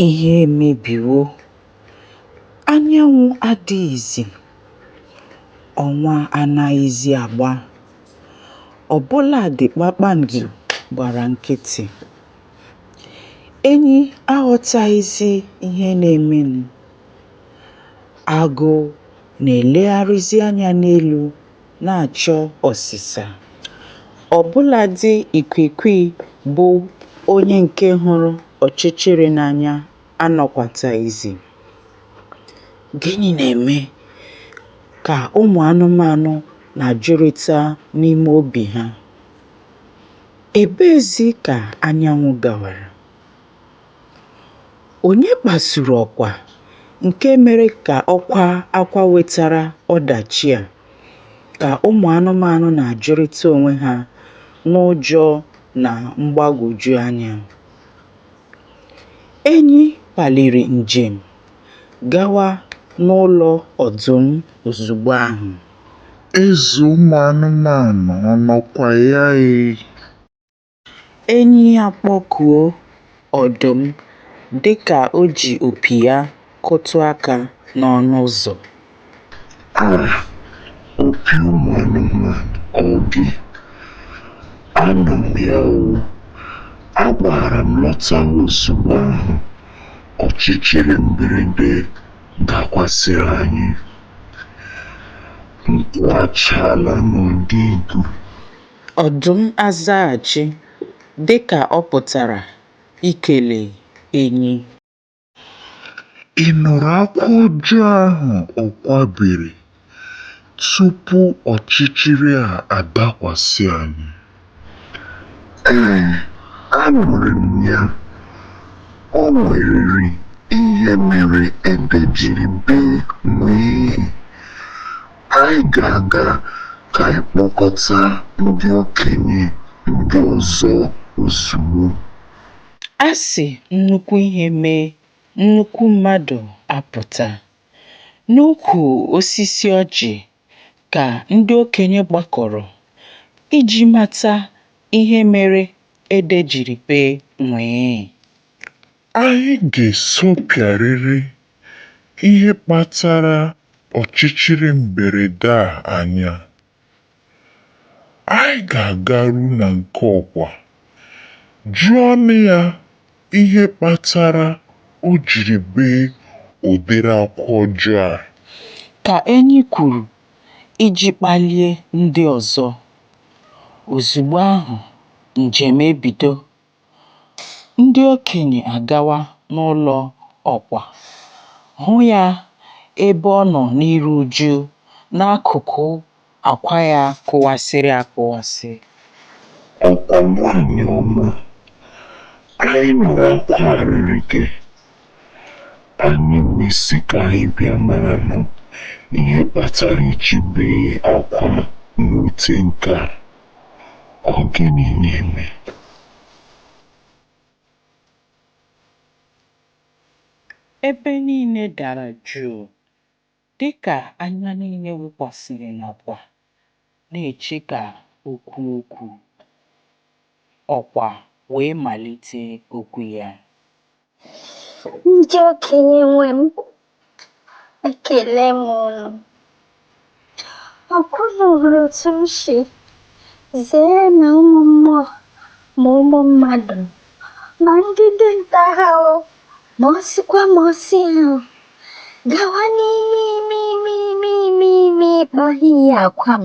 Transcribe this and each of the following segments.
Ihe emebiwo, anyanwụ adịghịzi, ọnwa anaghịzi agba, ọ bụladị kpakpando gbara nkịtị. Enyi aghọtaghịzi ihe na-emenụ. Agụ na-elegharịzi anya n'elu. na-achọ ọsịsa. Ọ bụladị ikwiikwii bụ onye nke hụrụ ọchịchịrị n'anya anọkwataghịzi. Gịnị na-eme ka ụmụ anụmanụ na-ajụrịta n'ime obi ha? Ebeezi ka anyanwụ gawara? Onye kpasuru ọkwa nke mere ka ọ kwaa akwa wetara ọdachi a? ka ụmụ anụmanụ na-ajụrịta onwe ha n'ụjọ na mgbagwoju anya. Enyi paliri njem gawa n'ụlọ ọdụm ozugbo ahụ. Eze ụmụ anụmanụ ọ nọkwa ya ee? Enyi akpọkuo ọdụm dịka o ji opi ya kụtụ aka n'ọnụ ụzọ. A Opi ụmụ anụmanụ ọ gị? Anọ m ya o! Agbaara m lọta ozugbo ahụ ọchịchịrị mberede dakwasịrị anyị. Nkwụ achaala n'ọdụ igu Ọdụm azaghachi dị ka ọ pụtara ikele enyi. Ị nụrụ akwa ọjọọ ahụ ọkwa bere tupu ọchịchịrị a adakwasị anyị? Ee, anụrụ m ya. O nwerịrị ihe mere ede jiri bee nwii. Anyị ga-aga ka anyị kpọkọta ndị okenye ndị ọzọ ozugbo. A sị nnukwu ihe mee, nnukwu mmadụ apụta. N'ukwu osisi ọjị ka ndị okenye gbakọrọ iji mata ihe mere ede jiri bee nwii. Anyị ga-esopịarịrị ihe kpatara ọchịchịrị mberede a anya. Anyị ga-agaru na nke ọkwa, jụọnụ ya ihe kpatara o jiri bee ụdịrị akwa ọjọọ a. Ka Enyi kwuru iji kpalie ndị ọzọ. Ozugbo ahụ, njem ebido. Ndị okenye agawa n'ụlọ ọkwa, hụ ya ebe ọ nọ n'iru uju n'akụkụ akwa ya kụwasịrị akụwasị. Ọkwa nwanyị ọma, anyị nụrụ akwa arịrị gị. Anyị wee sị ka anyị bịa maranụ ihe kpatara i ji bee akwa n'ute nke a. Ọ gịnị na-eme? Ebe niile dara jụụ dịka anya niile wụkwasịrị n'ọkwa na-eche ka o kwuo okwu. Ọkwa wee malite okwu ya. Ndị okenye nwe m, ekele m unu. Ọ kwa unu hụrụ otu m si zere na ụmụ mmụọ ma ụmụ mmadụ ma ndị dinta ha o ma ọ sịkwa ma ọ sị ahụ gawa n'ime ime ime ime ime ime ikpa yie akwa m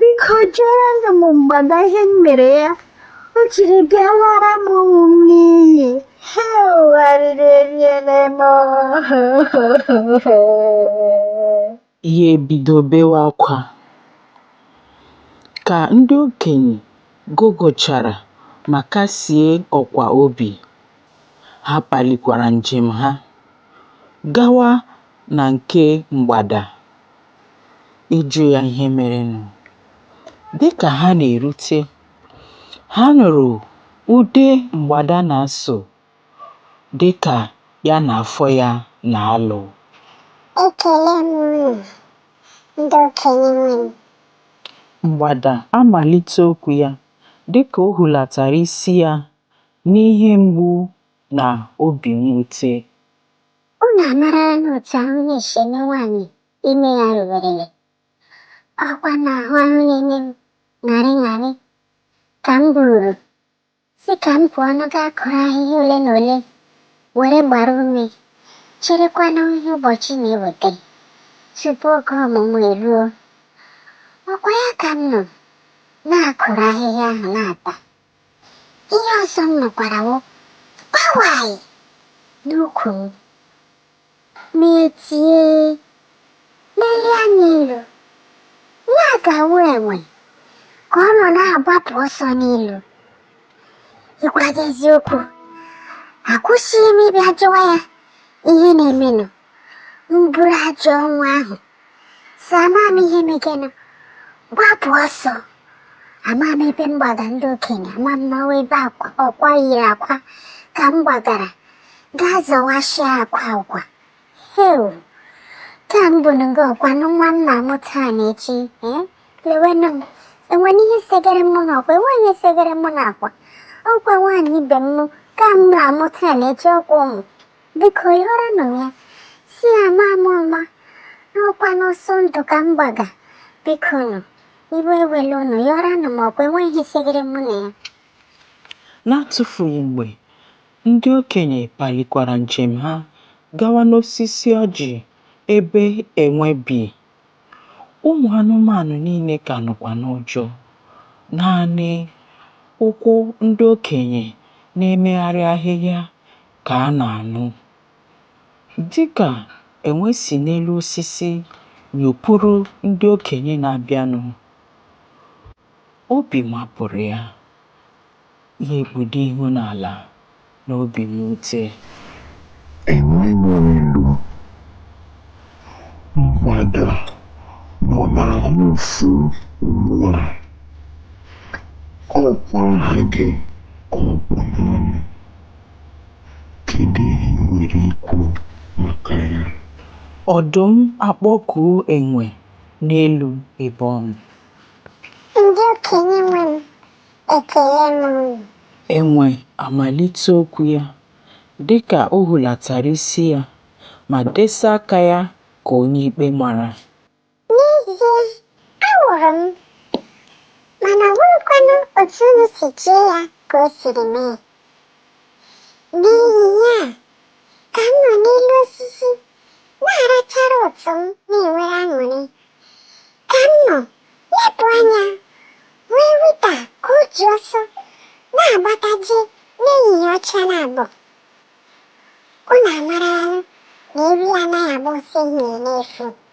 biko jụọrọnụ m mgbada ihe m mere ya o jiri bịa lara m ụmụ m n'iyi hewu arịrị eriela m ya ebido bewe akwa ka ndị okenye gụgụchara ma kasie ọkwa obi ha palikwara njem ha gawa na nke mgbada ịjụ ya ihe merenụ. Dị ka ha na-erute, ha nụrụ ude mgbada na-asụ dị ka ya na afọ ya na-alụ. Ekele m unu, ndị okenye nwe m. Mgbada amalite okwu ya dị ka o hulatara isi ya n'ihe mgbu na obi mwute. Unu amaralanụ otu ahụ na-esi eme nwaanyị ime ya ruwerele, ọ kwa na ahụ ahụ na-eme m ṅarị ṅarị ka m buuru, sị ka m pụọnụ gaa kụrụ ahịhịa ole na ole were gbara ume, cherekwanụ ihe ụbọchị na-eweta tupu oge ọmụmụ eruo. Ọ kwa ya ka m nọ na-akụrụ ahịhịa ahụ na-ata. Ihe ọzọ m nụkwara wụ kpawai n'ukwu m. M etie, lelie anya elu, ihe a ga-awụ enwe ka ọ nọ na-agbapụ ọsọ n'elu. Ịgwa gị eziokwu, akwụsịghị m ịbịa jụwa ya ihe na-emenụ. m buru ajọ ọnwụ ahụ si ama m ihe megenụ gbapụ ọsọ ama m ebe m gbaga ndị okenye ama m n'ọ wụ ebe ọkwa yiri akwa ka m gbagara gaa zọwashịa akwa ọkwa heu ka m bụ n'oge ọkwa nụ nwa m na-amụ taa na echi ee lewenụ m enwere ihe segere mụ n'ọkwa enweghị ihe segere mụ n'ọkwa ọkwa nwaanyị ibe m ka m na-amụ taa na echi ọkwa ụmụ Biko yọrọ nụ ya, sị ya ama m ụma, n'ọkwa n'ọsọ ndụ ka m gbaga. Biko nụ, iwe ewela unu, yọrọ nụ m ọkwa enweghị ihe segere mụ na ya. N'atụfughị mgbe, ndị okenye palikwara njem ha gawa n'osisi ọjị ebe enwe bi. Ụmụ anụmanụ niile ka nọkwa n'ụjọ. Naanị ụkwụ ndị okenye na-emegharị ahịhịa ka a na-anụ. Dị ka enwe si n'elu osisi nyopụrụ ndị okenye na-abịanụ, obi mapụrụ ya, ya ekpudo ihu n'ala n'obi mwute. Enwe n'elu, mgbada nọ n'ahụ ụfụ ugbu a. Ọ kwa aha gị ka ọ kpụ n'ọnụ? Kedu ihe ị nwere ikwu maka ya? Ọdụm akpọkuo enwe n'elu ebe ọ nọ. Ndị okenye nwe m, ekele m unu. Enwe amalite okwu ya dịka o hulatara isi ya ma desa aka ya ka onye ikpe mara. N'ezie, awụrụ m, mana ọ bụghịkwanụ otu unu si chee ya ka o siri mee. N'ihi ya, ka m nọ n'elu osisi na-arachara ụtụ m na-enwere aṅụrị, ka m nọ lepụ anya hụ ewita ka o ji ọsọ na-agbataje n'ehihie ọcha na-abọ. Unu amarala na ewi anaghị agba ọsọ ehihie n'efu.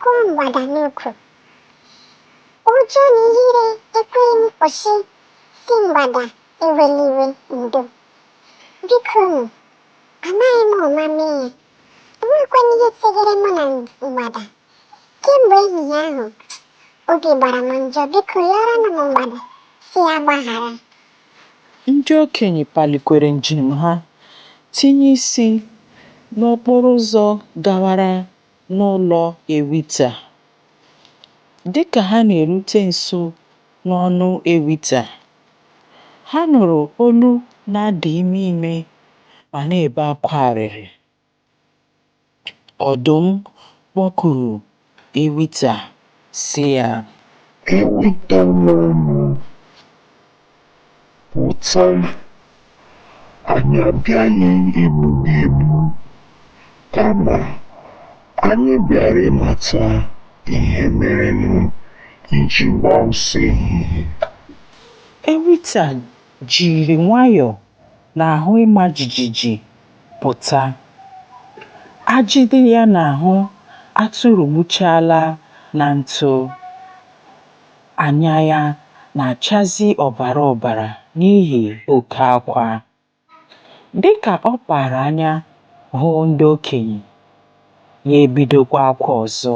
Kụọ mgbada n'ukwu. Ụjọ na ihere ekweghị m kwụsị sị mgbada ewela iwe ndo. Bikonu, amaghị m ụma mee ya. O nwekwana ihe seghere mụ na mgbada. Kemgbe ehihie ahụ, obi gbara m njọ. Biko yọọrọnụ m mgbada sị ya gbaghara. Ndị okenye palikwere njem ha, tinye isi n'okporo ụzọ gawara n'ụlọ Ewita. Dị ka ha na-erute nso n'ọnụ Ewita, ha nụrụ olu na-ada ime ime ma na-ebe akwa arịrị. Ọdụm kpọkuru Ewita, sị ya. Ewita nwanụ! pụta, anyị abịaghị igbu gị egbu, kama anyị bịara ịmata ihe merenụ i ji gbaa ọsọ ehihie. Ewita jiri nwayọọ na ahụ ịma jijiji pụta. Ajị dị ya n'ahụ atụrụgbuchaala na ntụ. Anya ya na-achazi ọbara ọbara n'ihi oke akwa. Dị ka ọ kpaara anya hụ ndị okenye, ya ebidokwa akwa ọzọ.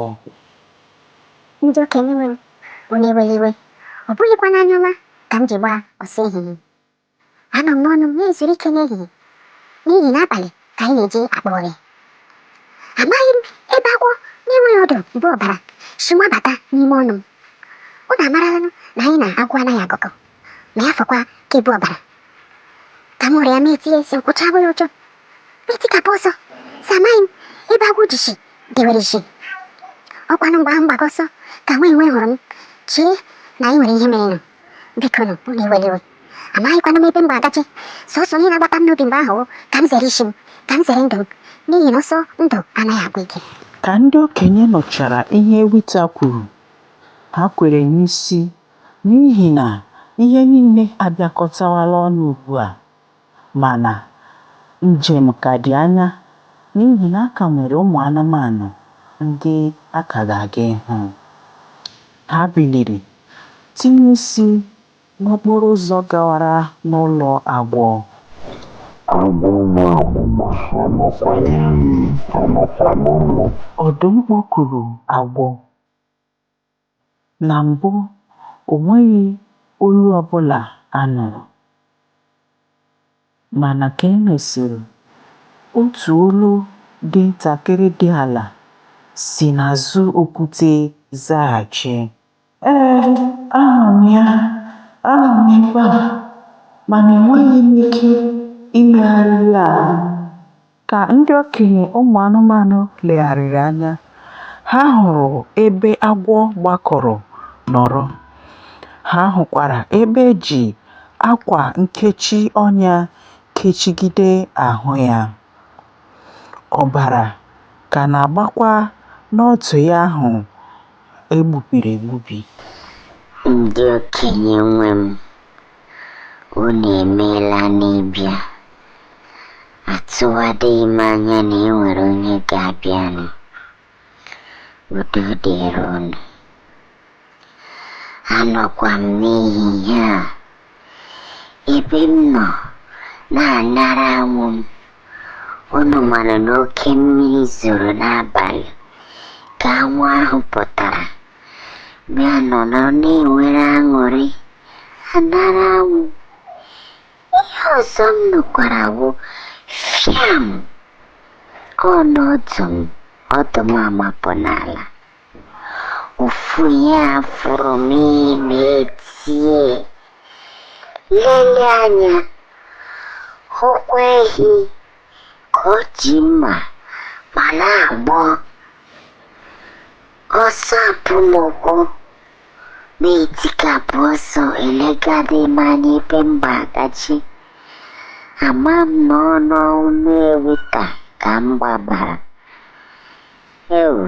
Ndị okenye nwe m, unu ewela iwe, ọ bụghịkwa n'anya ọma ka m ji gbaa ọsọ ehihie. Anọ m n'ọnụ m na-ezuru ike n'ehihie, n'ihi na abalị ka anyị na-eji akpa ụrị. Amaghị m ebe agwọ na-enweghị ọdụ bu ọbara si mabata n'ime ọnụ m. Unu amaralanụ na anyị na agwọ anaghị agụkọ, ma ya fọkwa ka e bu ọbara. Ka m hụrụ ya, m etie, sị, Nkwụcha abụghị ụjọ. M etikapụ ọsọ, sị, Amaghị m ebe agwọ ji si dewere isi. Ọkwanụ mgbe ahụ m gbaga ọsọ ka nwa enwe hụrụ m, chee na e nwere ihe merenụ. biko nụ unu ewela iwe amaghịkwanụ m ebe m ga-agaje sọsọ ihe na-agbata m n'obi mgbe ahụ wụ ka m zere isi m ka m zere ndụ m n'ihi na ọsọ ndụ anaghị agwụ ike Ka ndị okenye nụchara ihe Ewita kwuru, ha kwere n'isi n'ihi na ihe niile abịakọtawala ọnụ ugbu a. Mana, njem ka dị anya n'ihi na a ka nwere ụmụ anụmanụ ndị a ka ga-aga ịhụ. Ha biliri tinye isi n'okporo ụzọ gawara n'ụlọ agwọ. Agwọ nwa agbọghọ anọkwa n'elu, anọkwa n'ụlọ. Ọdụm kpọkuru agwọ. Na mbụ, o nweghị olu ọ bụla a nụrụ. Mana ka e mesịrị, otu olu dị ntakịrị dị ala si n'azụ okwute zaghachi. Ee, anụrụ m ya. Anọ m ebe a, mana enweghị m ike imegharịli ahụ m. Ka ndị okenye ụmụ anụmanụ legharịrị anya, ha hụrụ ebe agwọ gbakọrọ nọrọ. Ha hụkwara ebe e ji akwa nkechi ọnya kechigide ahụ ya. Ọbara ka na-agbakwa n'ọdụ ya ahụ e gbubiri egbubi. Ndị okenye nwe m, Unu emeela n'ịbịa. Atụwadịghị m anya na e nwere onye ga-abịanụ. Udo dịrị unu. Anọkwa m n'ehihie a ebe m nọ na-anara anwụ m. Unu mara na oke mmiri zoro n'abalị ka anwụ ahụ pụtara. Bịa nọrọ na-enwere aṅụrị. anara anwụ ihe ọzọ m nụkwara wụ fiam ọ n'ọdụ m ọdụ m amapụ n'ala ụfụ ya fụrụ m m etie lele anya hụkwa ehi ka o ji mma ma na-agba Ọsọ apụ mụkwa m etikapụ ọsọ elegadị m anya ebe m gbagachi. Ama m na ọ n'ọnụ ewita ka m gbabara. Ewu,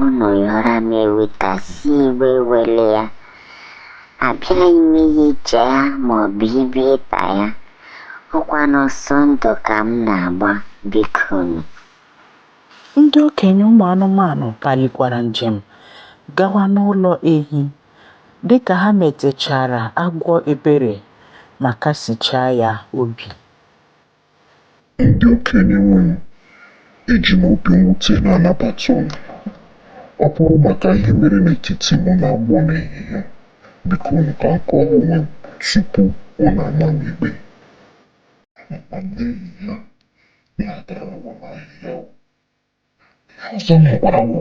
unu yọọrọ m ewita sị iwe ewele ya. Abịaghị m iricha ya maọbụ ịbịa ịta ya. Ọ kwa n'ọsọ ndụ ka m na-agba bikonu. Ndị okenye ụmụ anụmanụ palikwara njem gawa n'ụlọ ehi. Dị ka ha metechaara agwọ ebere ma kasichaa ya obi, Ndị okenye nwe m, eji m obi mwute na-anabata unu. Ọ bụrụ maka ihe mere n'etiti mụ na agwọ n'ehihie a, bikonụ ka m kọọ onwe m tupu unu ama m ikpe. Anọ m n'ehihie a na-atara onwe m ahịhịa o. Ihe ọzọ m hụkwara wụ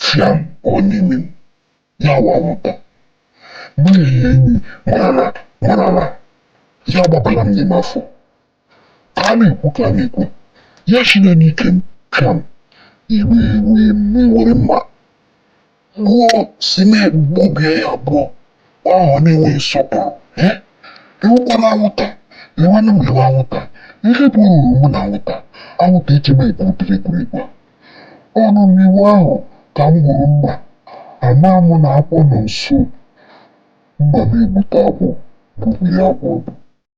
fiam, ọ n'imi m, ya wụ anwụnta. M ehihie imi m n'ala m n'ala, ya agbabala m n'ime afọ. Ka a na-ekwu ka a na-ekwu, ya si n'ike m fiam, iwe ewee m, m were mma. Gụọ si na gbubie ya abụọ ahụ na-enweghị nsọpụrụ ee ewukwala anwụta ewenụ m iwe anwụta ihe bụ ruru mụ na anwụta anwụta ichebe ekwurutiri ekwurikwa ọnụ n'iwu ahụ ka m hụrụ mma ama m na akwụ nọ nso mma na-egbute akwụ gbubie ya akwụ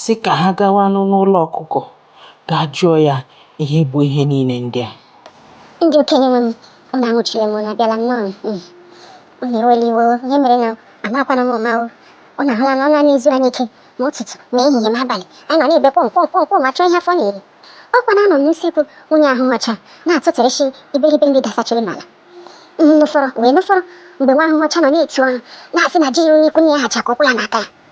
sị ka ha gawanụ n'ụlọ ọkụkọ gaa jụọ ya ihe bụ ihe niile ndị a. Ndị okenye nwe m, unu anwụchila m, unu abịala nnọọ m n'iyi. Unu ewela iwe o, ihe mere na o, amaakwanụ m ụma o. Unu ahụla na ọnụ anyị ezughị anyị ike, ma ụtụtụ, ma ehihie, ma abalị, anyị nọ na-ebe kwọm kwọm kwọm kwọm achọ ihe afọ na-eri. Ọ kwa na anọ m n'usekwu nwunye ahụhụ ọcha na-atụtụrịsị iberibe nri dasachiri n'ala. M nụfọrọ wee nụfọrọ mgbe nwa ahụhụ ọcha nọ na-eti ọnụ na-asị na ji ruru n'ikwu nne ya hacha ka ụkwụ ya na aka ya.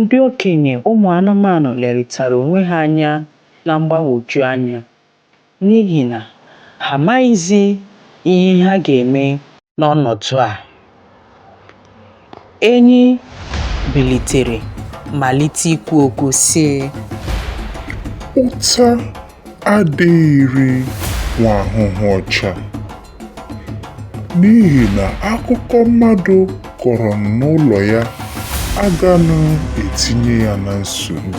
Ndị okenye ụmụ anụmanụ lerịtara onwe ha anya na mgbagwoju anya n'ihi na ha amaghịzi ihe ha ga-eme n'ọnọdụ a. Enyi bilitere malite ikwu okwu, sị. Ụta adịghịrị nwa ahụhụ ọcha n'ihi na akụkọ mmadụ kọrọ n'ụlọ ya aganụ etinye ya na nsogbu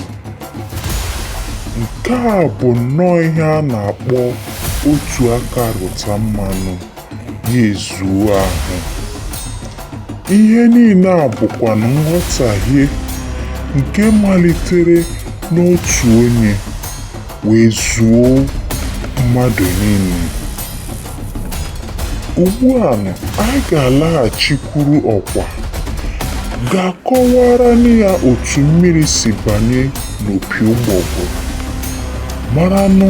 nke a bụ nnọọ ihe a na-akpọ otu aka rụta mmanụ ya ezuo ahụ ihe niile a bụkwanụ nghọtahie nke malitere n'otu onye wee zuo mmadụ niile ugbu a anyị ga-alaghachikwuru ọkwa gaa kọwaara ya otu mmiri si banye n'opi ụgbọgụrụ maranụ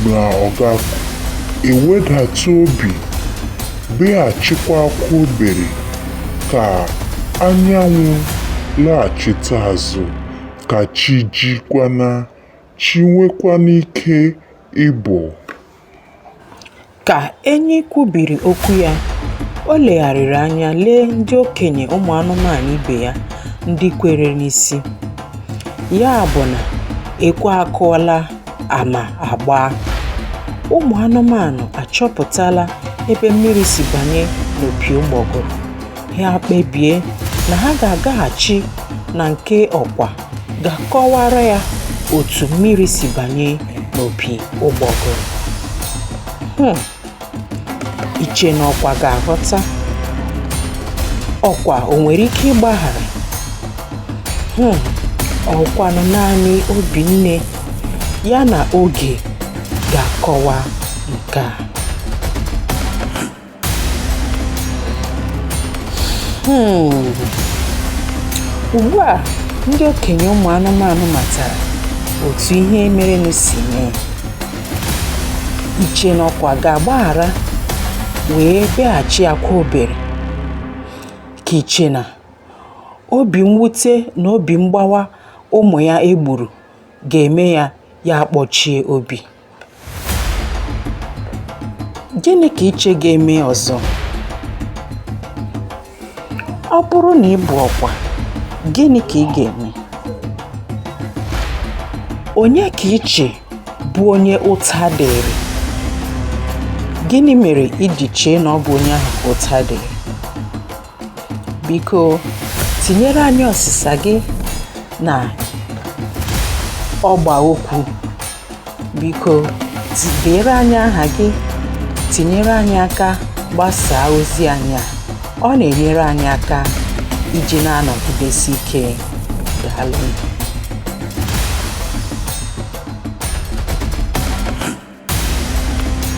na ọ ga-ewedata obi beghachikwa akwa obere ka anyanwụ laghachite azụ ka chi jikwana chi nwekwana ike ịbọ Ka enyi kwubiri okwu ya, o legharịrị anya lee ndị okenye ụmụ anụmanụ ibe ya ndị kwere n'isi, ya bụ na ekwe akụọla ama agbaa. Ụmụ anụmanụ achọpụtala ebe mmiri si banye n'opi ụgbọgụrụ, ha kpebie na ha ga-agaghachi na nke ọkwa gaa kọwaara ya otu mmiri si banye n'opi ụgbọgụrụ hmm. i che na ọkwa ga-aghọta ọkwa o nwere ike ịgbaghara hmm. ọ wụkwanụ naanị obi nne ya na oge ga-akọwa nke a Hmm. ugbu a ndị okenye ụmụ anụmanụ matara otu ihe merenụ si mee i che na ọkwa ga-agbaghara wee bịaghachi akwa obere ka i che na obi mwute na obi mgbawa ụmụ ya e gburu ga-eme ya ya akpọchie obi Gịnị ka i che ga-eme ọzọ? Ọ bụrụ na ị bụ ọkwa, gịnị ka ị ga-eme? Onye ka i che bụ onye ụta dịrị? Gịnị mere i ji chee na ọ bụ onye ahụ ka ụta dịrị? biko tinyere anyị ọsịsa gị na ọgba okwu biko deere anyị aha gị tinyere anyị aka gbasaa ozi anyị a ọ na-enyere anyị aka iji na-anọgidesi ike daalụ